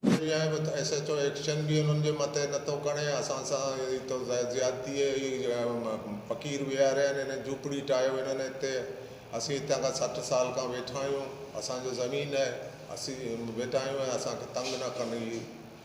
اڃا به S H O action به انهن جي مٿي نه ٿو کڻي اسان سان اهڙي تو زيادتي اهي فقير ويهاريا آهن هنن جهوپڙي ٺاهيو هنن هتي اسين هتان کان سٺ سال کان ويٺا آهيون اسان جو زمين آهي اسين ويٺا آهيون ۽ اسان کي تنگ نه ڪن اهي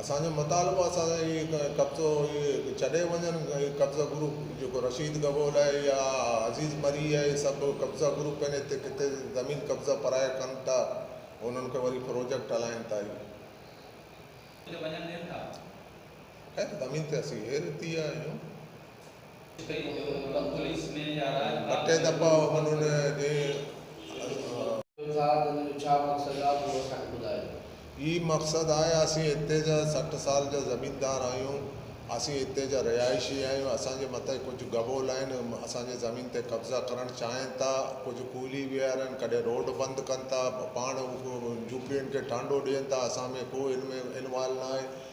اسان جو مطالبو آهي اسان سان اهي قبضو اهي ڇڏي وڃن اهي قبضا گرو جيڪو رشيد گبول آهي يا عزيز مري آهي اهي سڀ قبضا گرو پنهنجي هتي ڪٿي زمين قبضا پرايا ڪن ٿا انهن کي وري پروجيڪٽ هلائين ٿا اهي خير زمين تي اسين هير ٿي آيا آهيون. ٻٽي دفعا هنن جي. هي مقصد آهي، اسين هتي جا سٺ سال جا زميندار آهيون، اسين هتي جا رهائشي آهيون، اسان جي مٿي ڪجهه گبول آهن، اسان جي زمين تي قبضا ڪرڻ چاهين ٿا، ڪجهه ڪولهي ويهارن، ڪڏهن روڊ بند ڪن ٿا، پاڻ جهوپڙين کي ٽانڊو ڏين ٿا، اسان ۾ ڪو ان ۾ انوالو ناهي،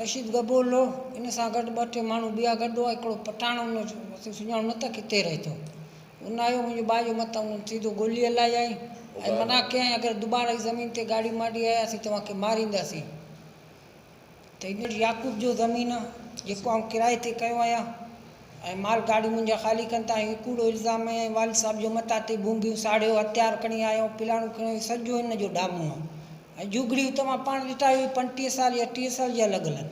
رشيد گبولو ان سان گڏ ٻه ٽي ماڻهو ٻيا گڏ هئا هڪڙو پٺاڻ ان تون سڃاڻو نه ته ڪٿي رهي ٿو ان آيو منهنجي ٻانهن جي مٿان ان سيڌو گولي هلايائين ۽ منع ڪيائين اگر دوباره هي زمين تي ڳاڙهي ماڙهي آيا اسين توهان کي مارينداسين ته هن چيو يعقوب جو زمين آ جيڪو آئون ڪرائي تي ڪيو آهيان ۽ مال گاڙهيون منهنجا خالي ڪن ٿا هي ڪوڙو الزام هنيائين والد صاحب جي مٿان تي بونگيون ساڙهيو هٿيار کڻي آيا آهيون پلاڻو کڻي آيا آهيون سڄو هن جو ڊامون آ اهي جهوڳڙيون توهان پاڻ ڏٺا اهي پنجٽيهه سال يا ٽيهه سال جي الڳ الڳ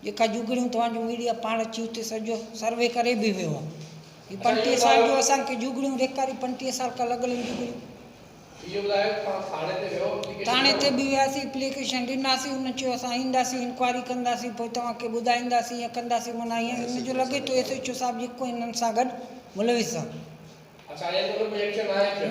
جيڪا جهوڳڙيون توهان جو ميڊيا پاڻ اچي اتي سڄو سروي ڪري به ويو آهي هي پنجٽيهه سال جو اسان کي جهوڳڙيون ڏيکاري پنجٽيهه سال کان الڳ الڳ جهوڳڙيون ٿاڻي تي به وياسي اپليڪيشن ڏناسي انهن چيو اسان اينداسي انڪوائري ڪنداسي پوء توهان کي ٻڌائينداسي ائين ڪنداسي معنيٰ ائين ان جو لڳي ٿو ايس ايڇ او صاحب جيڪو انهن سان گڏ ملوث آهي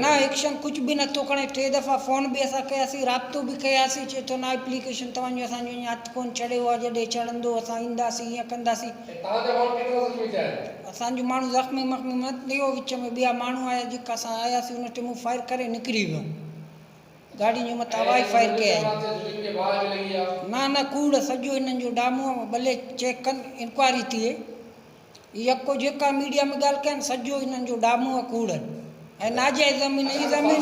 نه ايڪشن ڪجهه به نٿو کڻي ٽي دفعا فون به اسان ڪياسين رابطو به ڪياسين چئي ٿو نه اپليڪيشن توهان جو اسان جو اڃان هٿ ڪونه چڙهيو آهي جڏهن چڙهندو اسان اينداسين ائين ڪنداسين اسان جو ماڻهو زخمي مخمي نه ٿيو وچ ۾ ٻيا ماڻهو آيا جيڪا اسان آياسين ان ٽيمون فائر ڪري نڪري ويون گاڏين جي مٿان هوا ئي فائر ڪيائين نه نه ڪوڙ سڄو انهن جو ڊامو ٻلي چيڪ ڪن انڪوائري ٿئي يڪو جيڪا ميڊيا ۾ ڳالهه ڪن سڄو انهن جو ڊامون ۽ ڪوڙ ۽ ناجائز زمين اي زمين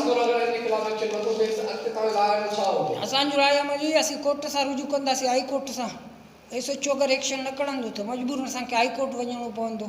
اسان جو راء عمل اهي اسين ڪورٽ سان رجوع ڪنداسين هائي ڪورٽ سان ايس ايڇ او اگر ايڪشن نه کڻندو ته مجبورن اسان کي هائي ڪورٽ وڃڻو پوندو.